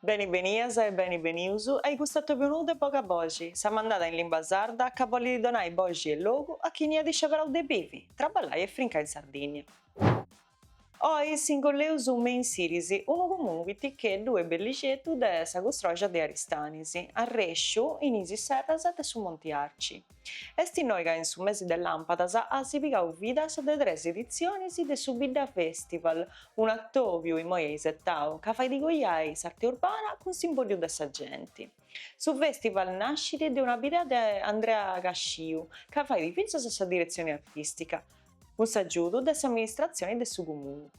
Beni benias e beni benius ai custu atòbiu nou de boga boxi, sa mandada in limba sarda ca bollit donai boxi e logu a chini at isceberau de bivi, traballai e frincai in Sardinnia. Oi s'ingolleus me in Sirisi, unu comunu piticheddu e bellixeddu de sa custroja de Aristanis, arrèsciu in is serras de su Monti Arci. Est innoi ca in su mesi de làmpadas at pigau vida sa de tres editzionis de su Bidda Festival, un'atòbiu imoi aisetau ca fait coiai s'arte urbana cun s'imbòddiu de sa genti. Su festival nascit de una bidea de Andrea Casciu, ca fait fintzas sa diretzioni artìstica, cun s'agiudu de s'amministratzioni de su comunu.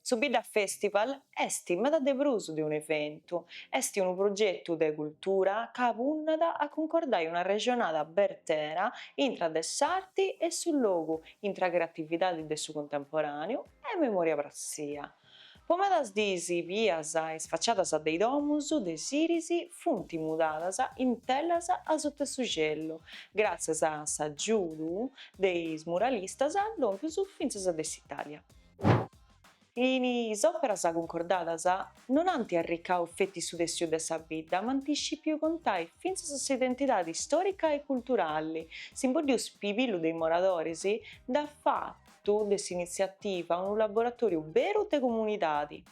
Su Bidda Festival est meda de prus de un'eventu, est unu progetu de cultura ca punnat a cuncordai una rexonada bertera intra de s'arti e su logu, intra creatividadi de su cuntemporàneu e memòria pratzia. Po medas diis bias is faciadas de is domus de Siris funt mudadas in telas asuta 'e su celu, gràtzias a s'agiudu de is muralistas lompius fintzas de s'Itàlia. Is òperas cuncordadas non ant arricau feti su tessiu de sa bidda ma ant iscipiu contai fintzas s'identidadi istòrica e culturali. S'imbòddiu spibillu de is moradoris nd'at fatu de s'initziativa unu laboratòriu beru de comunidadi.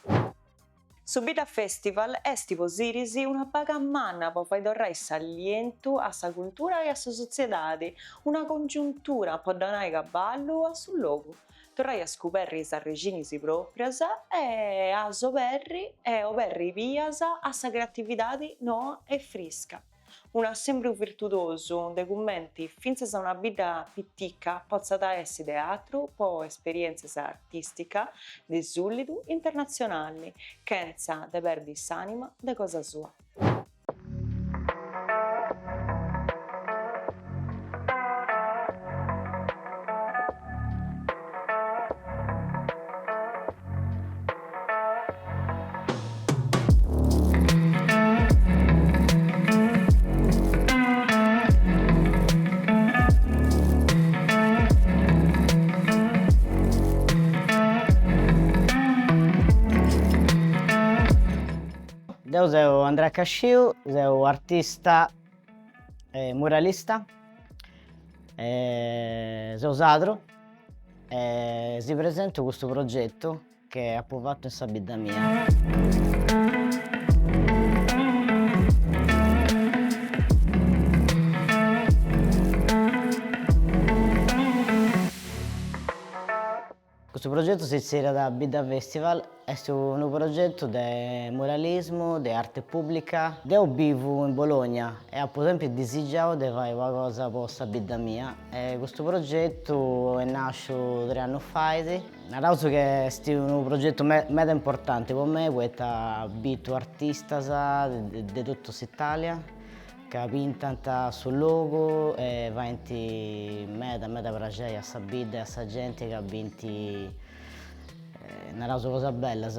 Su Bidda Festival est po Sirisi una baga manna po fai torrai s'allientu a sa cultura e a sa sotziedadi, una congiuntura po donai caballu a su logu, torrai a scuberri is arrèxinis pròprias e a s'oberri e oberri bias a sa creatividadi noa e frisca. Un'assempru virtudosu, de cumenti fintzas una bidda pitica potzat essi teatru po esperièntzias artìsticas de sùlidu internatzionali, chentza de perdi s'ànima de cosa sua. Deu seu Andrea Casciu, seu artista e muralista e seu sadru e si presentu custu progetu Chi apo fattu in sa bidda mia. Custu progetu si zerriat Bidda Festival, est unu progetu de muralismu, de arte pubblica. Deo bivu in Bologna e apo sempri disigiau de fai una cosa po sa bidda mia e custu progetu est nàsciu tres annus fait Naraus chi est unu progetu meda importanti po mei poita bitu artistas de totu s'Italia ca pintant su logu e faint meda meda praxei a sa bidda e a sa genti ca bint naraus cosas bellas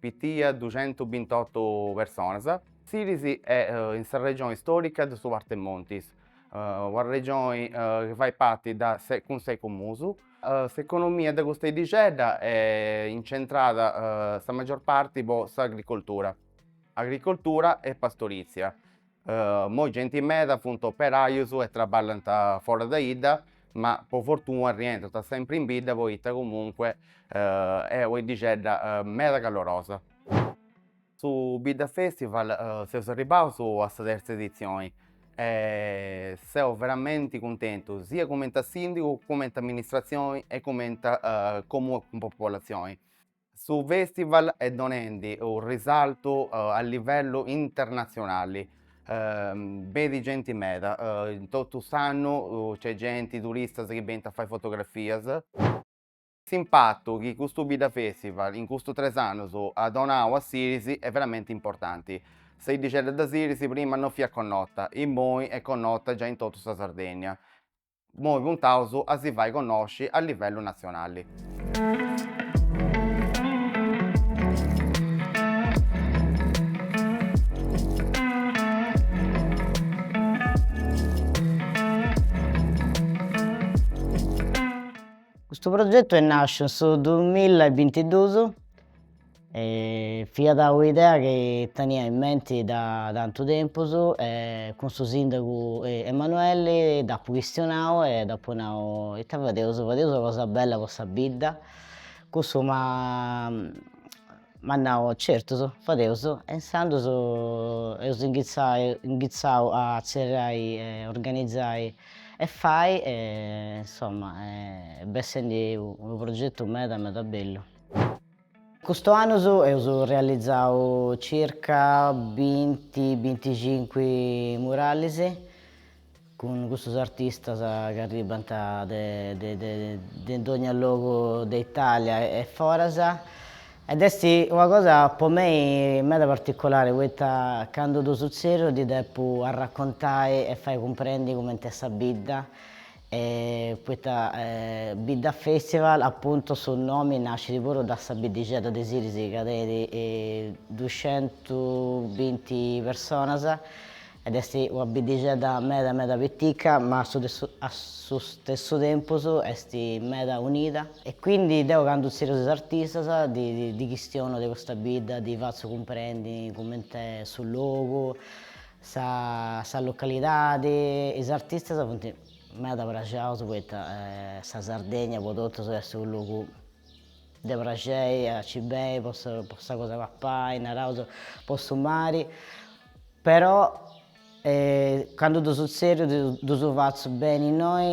Pitia duxentu bint'otu personas. Siris est in sa regioni istòrica de su Partemontis, una regioni chi fait parti da cun ses comuns. S'economia de custa 'iddixedda est incentrada sa maggior parti po s'agricoltura, agricoltura e pastorizia. Immoi genti meda funt operajus e traballant foras de 'idda, ma po fortuna rientrant sempri in bidda poita comunque est una 'iddixedda meda calorosa. Su bidda festival seus arribbaus a sa terza edizioni e seu veramenti cuntentu sia cumenti a sìndigu cumenti a amministratzioni e cumenti a comune cun popolatzioni Su fèstival est donendi unu risaltu a livellu internatzionali, benit genti meda, in totu s'annu c'est genti, turistas chi benint a fai fotografias. S'impatu chi custu Bidda Festival in custus tres annus at donau a Siris est veramenti importanti. Sa 'iddixedda de Siris prima non fiat connota, immoi est connota giai in totu sa Sardegna. Imoi puntaus a si fai connosci a livellu natzionali. Custu progetu est nàsciu in su duamilla e bintiduus fiat un'idea chi tenia in menti da tantu tempus e cun su sìndagu Emanueli dd'apo chistionau e dd'apo nau, ite fadeus, fadeus una cosa bella po sa bidda, cussu m'at m'at nau, certus, fadeus e insandus eus inghitzai inghitzau a zerrai organizai e fai e insomma est bessendi unu progetu meda meda bellu Custu annus eus realizau circa binti, binticinqui murallis cun custus artistas chi arribbant de dogna logu de Italia e foras ed est una cosa po mei meda particulari poita candu ddus tzèrriu ddis depu arracontai e fai cumprendi cumenti est sa bidda E poita bidda festival appuntu su nomi nascit puru da sa biddixedda de Siris ca tenit duxentubinti personas ed est una biddixedda meda meda pitica ma a su stessu tempus est meda unida e quindi deu candu tzèrriu is artistas ddis chistionu de custa bidda ddis fatzu cumprendi cumenti est su logu Sa sa localidade e is artistas funt meda praxaus poita sa Sardegna po totus est su logu de praxei a nci beni po sa po sa cosa papai naraus po su mari però candu ddus tzèrriu ddus fatzu beni innoi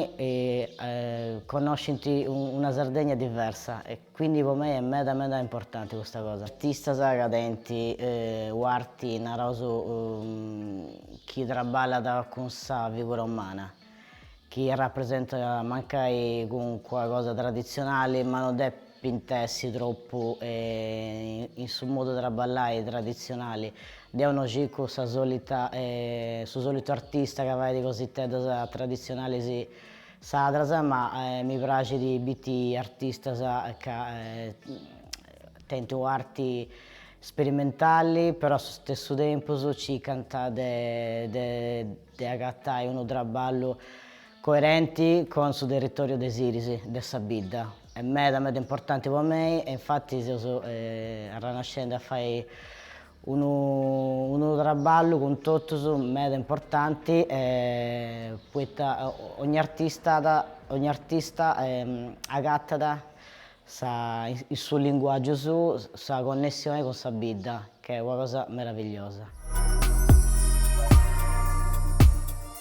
connoscint una Sardegna diversa e Quindi po mei est meda meda importanti custa cosa. Artistas ca tenint u'arti naraus chi traballat cun sa figura umana, chi rapresentat mancai calincuna cosa traditzionali ma no depint essi tropu in su modu 'e traballai traditzionali. Deu no circu sa solita su solitu artista ca fait cositeddas traditzionalis Sardas ma mi praxit bitti artistas ca tenint u'arti sperimentali però a su stessu tempus circant de agatai unu traballu coerenti cun su territoriu de Siris, de sa bidda. Est meda meda importanti po mei e infattis seus arrannescendi a fai Unu unu traballu cun totus meda importanti poita ogni artista at ogni artista agatat sa in su linguàgiu suu sa connessioni cun sa bidda ca est una cosa meravigliosa.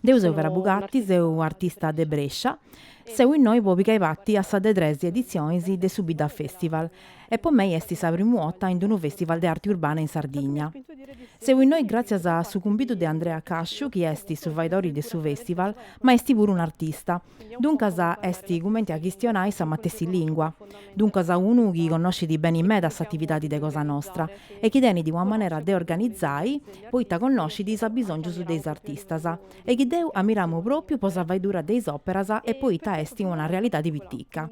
Deu seu Vera Bugatti, seu artista de Brescia, seu innoi po pigai parti a sa de tres editzionis de su Bidda Festival e po mei est sa primu 'orta in unu festival de arti urbana in Sardigna. Seu innoi gràtzias a su cumbidu de Andrea Casciu chi est su faedori de su festival ma est puru un'artista, Duncas est cumenti a chistionai sa matessi lìngua. Duncas unu chi connoscit beni meda s'atividadi de cosa nostra e chi tenit una manera de organizai poita connoscit is abisòngius de is artistas e chi deu ammiramu pròpiu po sa faedura de is òperas e poita est una realidadi pitica.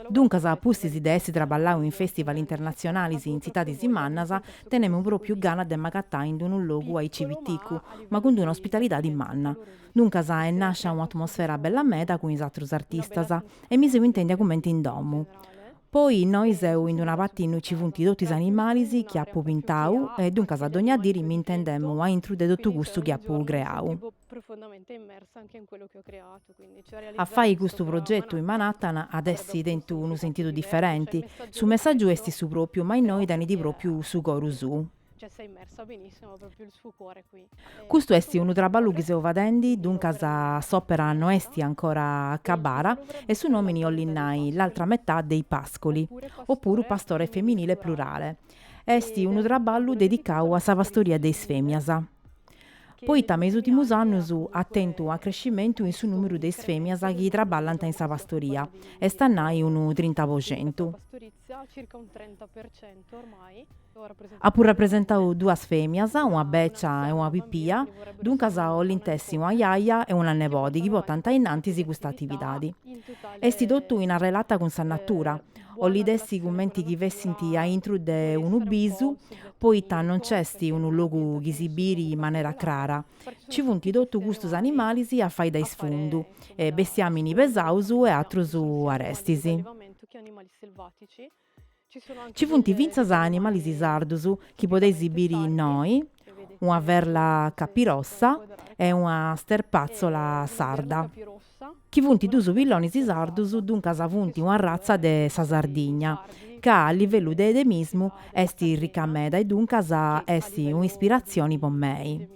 Duncas a pustis de essi traballau in festival internatzionalis in tzitadis mannas tenemu pròpiu gana de m'agatai in unu logu aici piticu ma cun d'una ospitalidadi manna. Duncas est nàscia una atmosfera bella meda cun is atrus artistas e mi seu intèndia cumenti in domu. Poi innoi seu in d'una parti innui nci funt totu is animalis chi apu pintau e duncas dònnia diri mi intendemu a intru de totu custu chi apu creau. A fai custu progetu in Manhattan at essi tentu unu sentidu diferenti. Su messàgiu esti su pròpiu ma innoi tenit pròpiu su coru suu. Custu est unu traballu chi seu fadendi, duncas s'òpera no est ancora acabada e su nòmini 'ollit nai l'altra metà dei pascoli, opuru pastore femminile plurale. Est unu traballu dedicau a sa pastoria de is fèmias. Poita me is ùrtimus annus at tentu acrescimentu in su nùmeru de is fèmias chi traballant in sa pastoria, est a nai unu trinta po centu. Apu rapresentau duas fèmias, una becia e una pipia, duncas 'olint essi una jaja e una nebodi chi portant a innantis custa atividadi. Esti totu in arrelata cun sa natura, 'olit essi cumenti chi fessint a intru de unu bisu, poita non nc'esti unu logu chi si biri in manera crara, ci funt totu custus animalis a fai de isfundu, bestiamini pesaus e atrus arestis. Ci funt fintzas animalis sardus chi podeis biri innoi, una verla capirossa e una sterpatzola sarda, chi funt duus pillonis sardus, duncas funt una ratza de sa Sardigna, ca a livellu de edemismu est ricca meda e duncas est un'ispiratzioni po mei.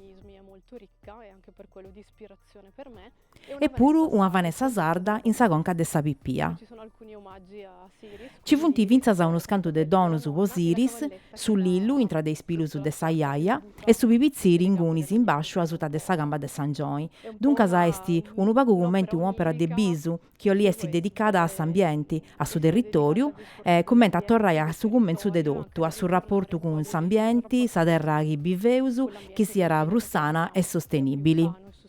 e puru una Vanessa sarda in sa conca de sa pipia. Ci funt fintzas unus cantu de donus po Siris, su lillu intra de is pilus de sa jaja e su pipitziri ingunis in basciu asuta de sa camba de s'angioni, duncas est unu pagu cumenti un'òpera de bisu chi 'olit essi dedicada a s'ambienti, a su territòriu e cumenti a torrai a su cumentzu de totu, a su raportu cun s'ambienti, sa terra chi biveus, chi siat prus sana e sostenìbili.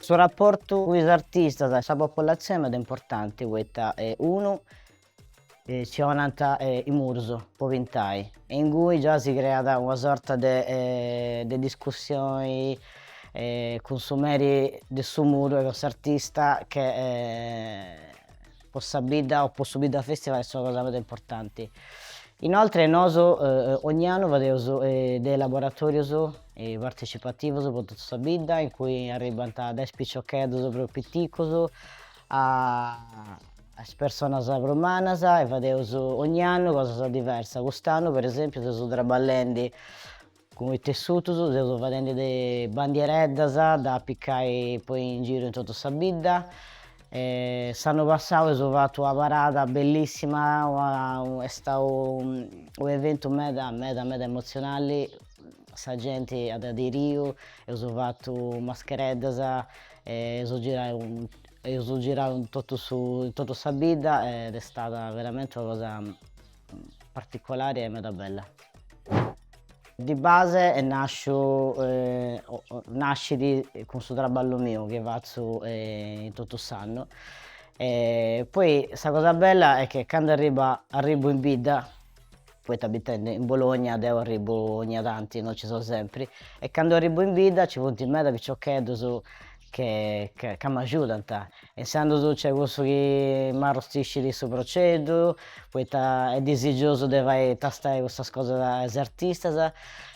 Su raportu cun is artistas e sa popolatzioni est meda importanti poita unu ci 'onant is murus po pintai e ingui già si creat una sorta de de discussioni cun su meri de su muru e cun s'artista che po sa bidda o po su bidda festival est una cosa meda importanti. Inoltre nosu ogni annu fadeus de laboratorius partecipativus po totu sa bidda in cui arribbant dae is piciocheddus prus piticus a is personas prus mannas e fadeus ogni annu cosas diversas. Cust'annu per esempiu seus traballendi Cun is tessutus seus fadendi de bandiereddas de apicai po in giru in totu sa bidda e s'annu passau eus fatu una parada bellissima est stau un'eventu meda meda meda emotzionali sa genti at aderiu eus fatu maschereddas e eus girau eus girau in totu su in totu sa bidda ed est stada veramenti una cosa Particolari e meda bella. Di base est nasciu nascit cun su traballu miu chi fatzu in totu s'annu e poi sa cosa bella est che candu arriba arribu in bidda poita abitendi in Bologna deu arribu ogna tanti no ci so sempri e candu arribu in bidda ci funt meda piciocheddus che ca m'agiudant Intzandus nc'est cussu chi m'arrustiscit su proceddu, poita est disigiosu de fai tastai custas cosas a is artistas.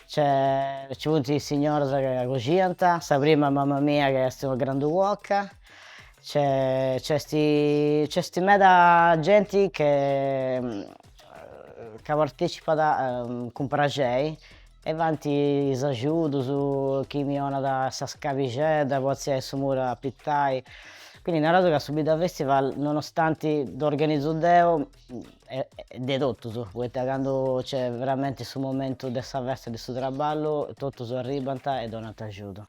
Nci funt is signoras ca coxinant, sa prima mama mia chi est una grandu cuoca, nc'est nc'est meda genti chi ca partecipat cun praxei E funt is agiudus chi mi 'onat sa scalixedda po atziai su muru a pintai. Quindi naràus ca su Bidda Festival, nonostanti dd'organizu deu, est de totus, poita candu nc'est veramenti su momentu de sa festa de su traballu, totus arribbant e donant agiudu.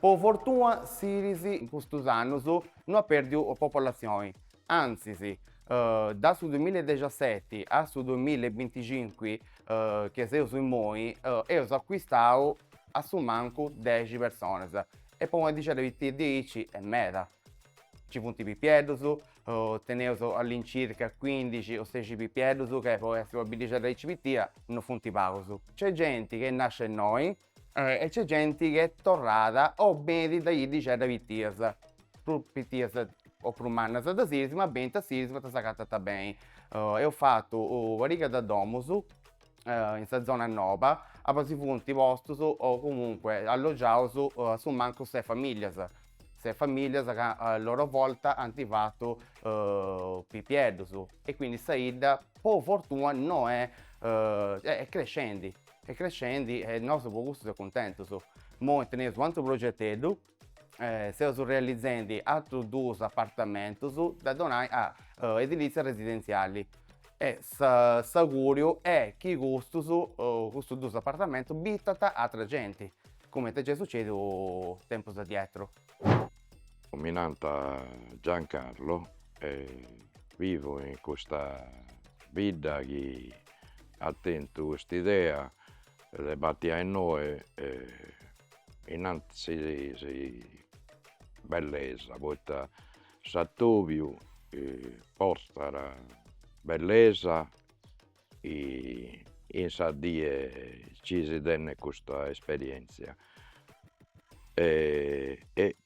Po fortuna Siris in custus annus no at pèrdiu popolatzioni, antzis, dae su duimilla e dexaseti a su duimilla e binticincu chi seus immoi eus acuistau a su mancu dexi personas e po una biddixedda pitica diaici est meda, nci funt pipieddus, teneus all'incirca cuindixi o sexi pipieddus ca po essi una biddixedda aici pitica no funt pagus. Nc'est genti chi est nascia innoi e c'est genti chi est torrada o benit de biddixeddas pitias prus pitias o prus mannas de Sirisi ma benint a Sirisi poita s'agatant beni eus fatu una pariga de domus in sa zona noba abì si funt postus o comunque allogiaus a su mancu ses familias ses familias ca a loro volta ant fatu pipieddus e quindi sa 'idda po fortuna nosta est crescendi Est crescendi e nosu po custu seus cuntentus. Imoi teneus u' atru progeteddu, seus realizendi atrus duus apartamentus da donai a edilizia residentziali e s'auguriu est chi custus custus duus apartamentus bitant atra genti, cumenti est giai sucediu tempus addietru. Mi nant Giancarlo e vivu in custa bidda chi at tentu cust'idea de batti a innoe e innanti bellesa poita s'Atobiu portat bellesa in sa die chi si tenet custa esperientzia e e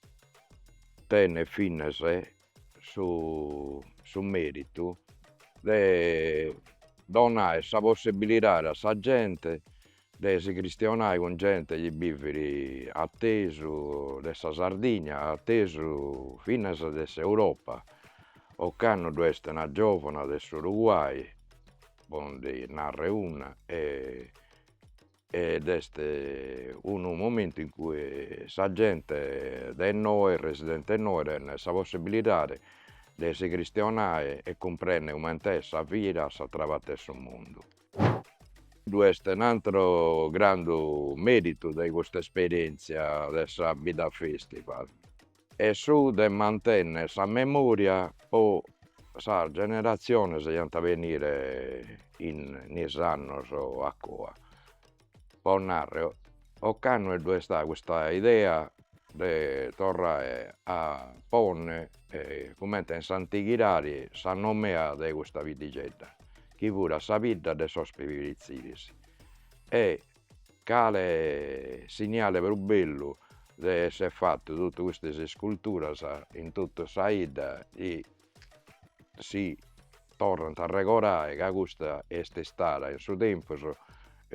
tenet finas su su meritu de donai sa possibilidadi a sa gente de si cristionai cun gente chi bivit attesu de sa Sardigna, attesu finas de s'Europa, ocannu ddu est una giovana de s'Uruguay, po ndi narrer una e Ed est unu momentu in cui sa gente de innoe, is residentes de innoe tenent sa possibilidade de si cristionai e cumprender comente est sa vida a s'atra parte 'e su mundu. Ddu est un'atru grandu meritu de custa esperientzia de sa Bidda Festival. e su de mantenner sa memoria po sas generatziones chi ant a benire in is annos a coa, po narrer ocannu ddu est istada custa idea de torrare a ponner comente in s'antighidade sa nomea de custa biddigedda chi furat sa bidda de sos pibiritziris e Cale signale prus bellu de essere fattu tottu custas isculturas in tottu sa 'idda chi si torrant a arregorai ca custa est istada in su tempus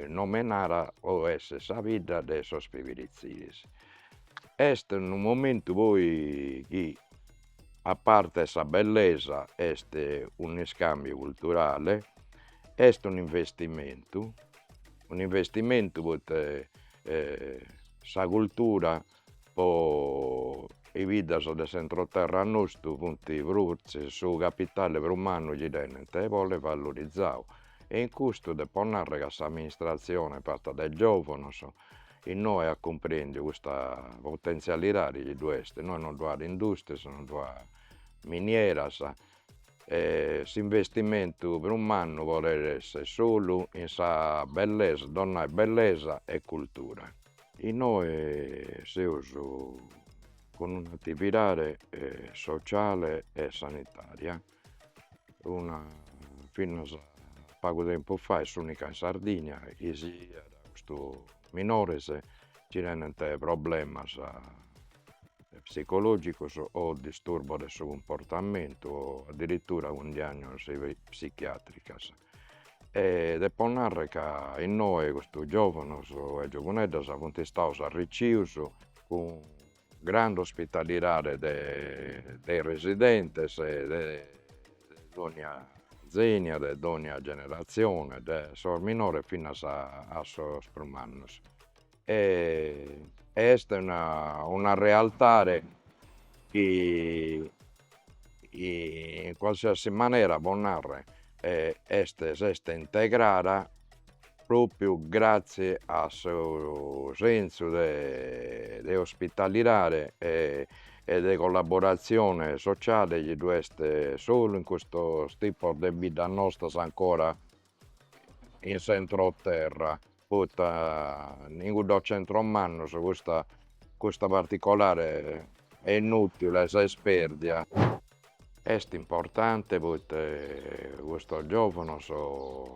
nomenada o est sa bidda de sos pibiritziris. Est unu momentu poi chi a parte 'e sa bellesa est un'iscambiu culturale, est un'investimentu, un'investimentu poite sa cultura pro is biddas de s'entroterra nostru funt prus, su capitale prus mannu chi tenent e bolet valorizadu e in custu depo narrer ca s'amministrazione fatta dae giovanos Innoe at cumprèndiu custa potentzialidade chi ddu est, innoe non ddu at industrias, non ddu at minieras e s'investimentu prus mannu podet esser solu in sa bellesa, donae bellesa e cultura. Innoe seus cun un'atividade sociale e sanitaria una finnos a pagu tempus fai s'unica in Sardigna chi pigat custus minores chi tenent problemas psicologicos o disturbos de su cumportamentu o addirittura cun diagnosi psichiatricas e depo narrer ca innoe custos giovanos e giovuneddas funt istados arriccios cun Grande ospitalidade de de is residentes e de dogna zenia, de dogna generatzione, de sos minores finas a a sos prus mannos. E est una una realtade chi in qualsiasi manera pro narrer est s'est integrada propriu grazzie a su sensu de de ospitalidade e e de collaborazione sociale chi ddu est solu in custos tipos de biddas nostras ancora in s'entroterra poita in cuddos centros mannos custa custa particolare, est inutile, s'est perdia est importante poita custos giovanos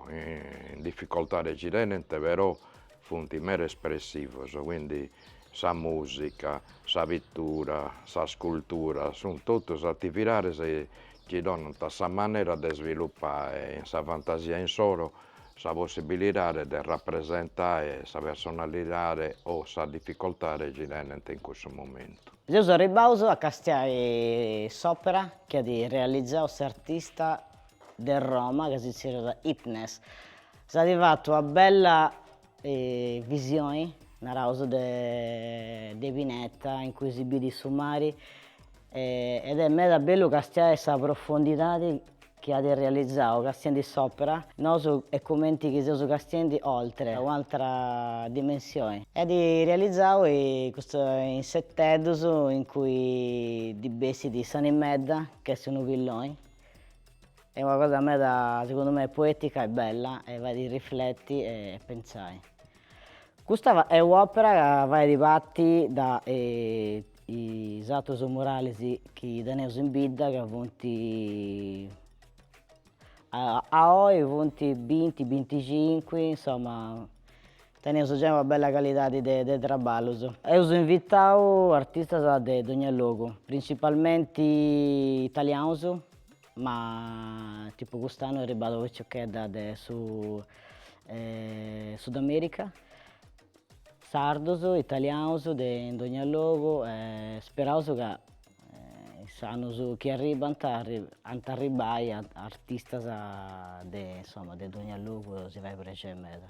in difficoltade chi tenent però Funt meda espressivos, quindi sa musica, sa pittura, sa scultura, sunt totus atividades chi donant sa manera de svilupae in sa fantasia insoro sa possibilidade de rapresentae sa personalidade o sa dificoltade chi tenent in cussu momentu. Seus arribbaus a castiai s'òpera chi at realizau s'artista de Roma ca si zerriat Hitnes, S'at fatu una bella visioni, naraus, de de pineta in cui si bidit su mari ed est meda bellu castiai sa profondidadi chi at realizau castiendi s'opera, nosu est cumenti chi seus castiendi oltre un'altra dimensioni. E at realizau custu insetteddus in cui ddi bessit s'animedda chi est unu pilloni Est una cosa meda segundu mei poetica e bella e fait irrifleti e pentzai. Custa est u'opera ca fait parti de is atrus murales chi teneus in bidda ca funt a oi funt binti binticincui insomma teneus giai una bella calidadi de traballus. Eus invitau artistas de dogna logu, principalmenti italianus Ma tipu cust'annu est arribada una piciochedda de su Sudamerica, sardus, italianus de in dogna logu e speraus ca is annus chi arribant ant a arribbai artistas de insomma de dogna logu si fait prexeri meda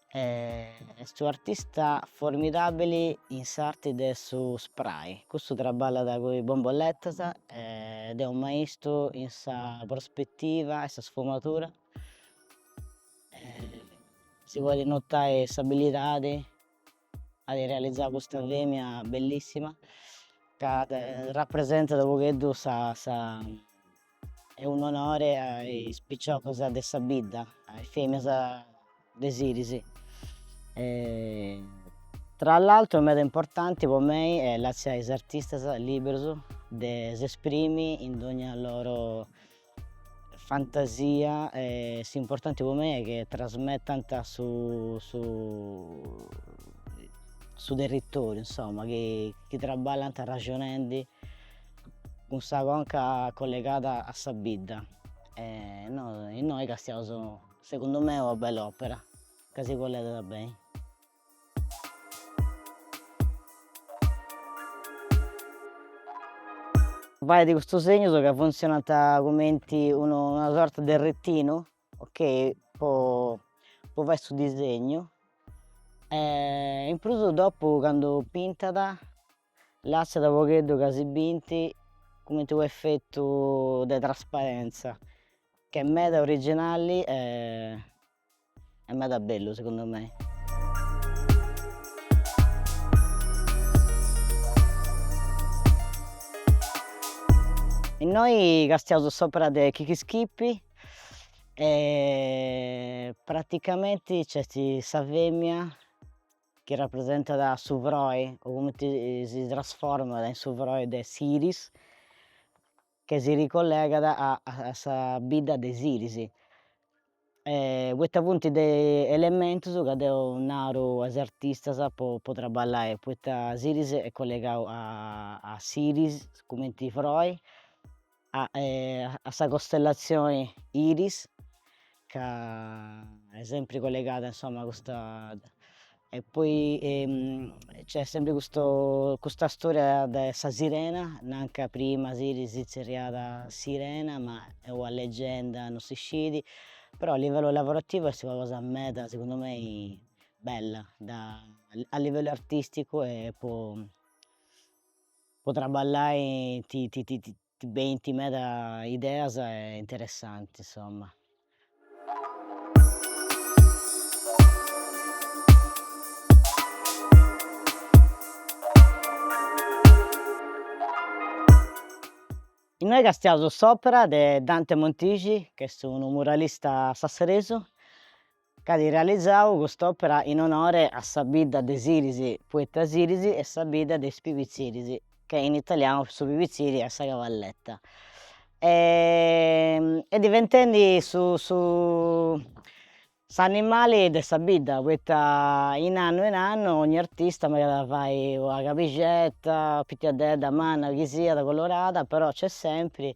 est unu artista formidabili in s'arti de su spray custu traballat cun is bombolletas ed est unu maistu in sa prospettiva e sa sfumadura si podit notai s'abilidadi at realizau custa femina bellissima ca rapresentat unu pagheddu sa sa E unu onore a is piciocas de sa bidda, a is femias de Siris. Tra l'altru meda importanti po mei est lassai is artistas liberus de s'esprimi in dogna loro fantasia e s'importanti po mei est che trasmettant su su territoriu insomma chi traballant arraxonendi cun sa conca collegada a sa bidda e innoi castiaus segundu mei una bella opera ca si collegat beni. Faidi custus segnus ca funzionant cumenti una sorta de retinu ok po fai su disegnu e in prus dopu candu pintat Lassat pagheddu ca si bint cumenti unu effettu de trasparentza ch'est meda originali e meda bellu segundu mei. Innoi castiaus s'opera de Kiki Skipi e praticamenti nc'est sa femina chi rapresentat su frori o cumenti si trasformat in su frori de Siris che si ricollegat a a sa bidda de Siris poita funt de elementus ca deu nau a is artistas po po traballai poita Siris est collegau a a Siris cumenti frori a a sa costellatzione Iris ca est sempri collegada insomma a custa e poi c'est sempri custa custa storia de sa sirena, nant ca prima Siris si zerriàt Sirena ma est una leggenda non si scit, però a livellu lavorativu est una cosa meda segundu mei bella da a livellu artisticu e po po trabballai ti ti ti ti benint meda ideas interessantis insomma innoi castiaus s'opera de Dante Montixi ch'est unu muralista sasseresu Ch'at realizau cust'òpera in onore a sa bidda de Siris, poita Siris est sa bidda de is Pibitziris, ca in italianu su Pibitziri est sa cavalletta, est diventendi su su s'animali de sa bidda, poita in annu in annu ogni artista megat a fai una cabixetta, pitiedda, manna, chi siat colorada, però nc'est sempri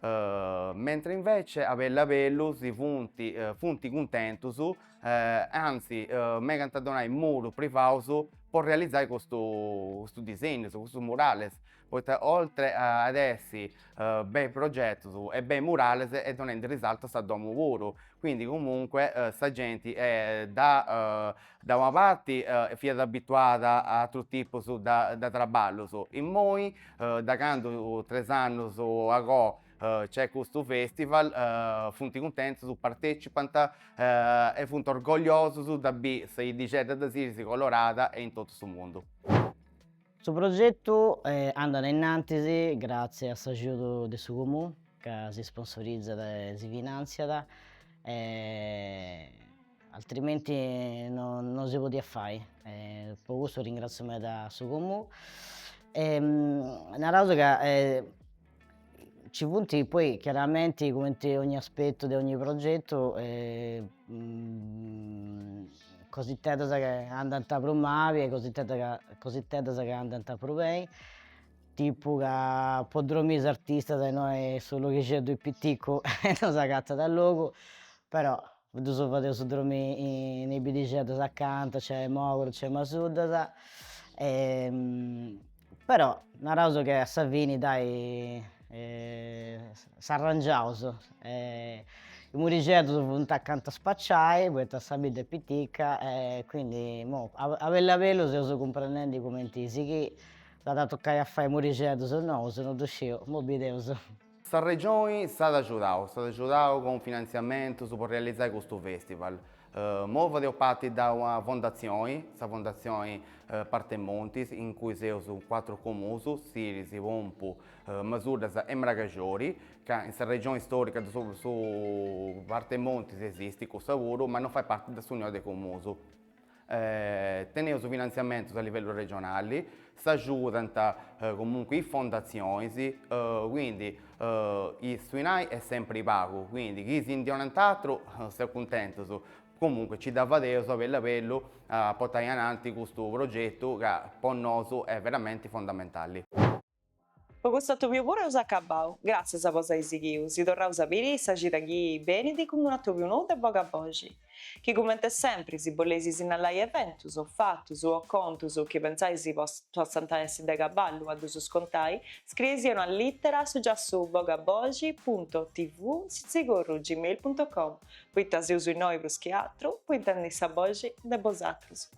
mentre invece a bellu a bellu si funt funt cuntentus e anzi megant a donai murus privaus po realizai custus custus disegnus custus murales poita oltre a ad essi bei progetus e bei murales e donendi risaltu a sa domu puru quindi comunque sa genti e dà Da una parti fiat abituada a atrus tipus de traballus, immoi da candu tres annus agoa nc'est custu festival funt cuntentus, partetzipant e funt orgogliosus de biri sa 'iddixedda de Siris colorada e in totu su mundu. Su progetu andat innantis gratzias a s'agiudu de su Comunu ca si sponsorizat e si finantziat e Altrimenti no si podiat fai e po cussu ringrazio meda su Comuu e naraus ca ci funt poi chiaramenti cumenti ogni aspettu de ogni progetu cositeddas chi andant prus mali e cositeddas ca andant prus beni, tipu ca po dromi is artistas innoi su loghixeddu piticcu non s'agatat logu, però Ddus fadeus dromi in is bidixeddas acanta, nc'est Mòguru, nc'est Masuddas, però naraus che a sa fini dai s'arrangiaus e is murixeddus funt acanta a spaciai poita sa bidda est pitica e quindi imoi a bellu a bellu seus cumprendendi cumenti sighì, s'at a tocai a fai murixeddus nous, non ddu sciu, imoi bideus Sa Regioni s'at agiudau, s'at agiudau cun finantziamentus pro realizai custu fèstival. Imoi fadeus parti de una fondatzioni, sa fondatzioni Partes Montis, in cui seus cuatru comuns, Siris, Pompu, Masuddas e Mragaxori, ca in sa Regioni Stòrica de su Partes Montis esistit cussa puru, ma non fait parti de s'Unioni de Comuns. Teneus finantziamentus a livellu regionali, s'agiudant comunque is fondatzionis, quindi su 'inai est sempri pagu, quindi chi si ndi 'onant atru seus cuntentus, comunque nci dda fadeus a bellu a bellu a portai ananti custu progetu ca po nosu est veramenti fondamentali. Po custu atòbiu puru eus acabau. Gràtzias po s'ai sighiu, si torraus a biri sa cida chi benit cun un'atòbiu nou de Bogaboxi. Chi cumente sempri si boleis sinnalai eventus, o fatus, o contus chi pensais possant essi de caballu a ddus contai, scrieisia una lìtera a su giassu bogaboxi punto tv sitzigorru gmail punto com, poita seus innoi prus chi atru po intendi sa boxi de bosatrus.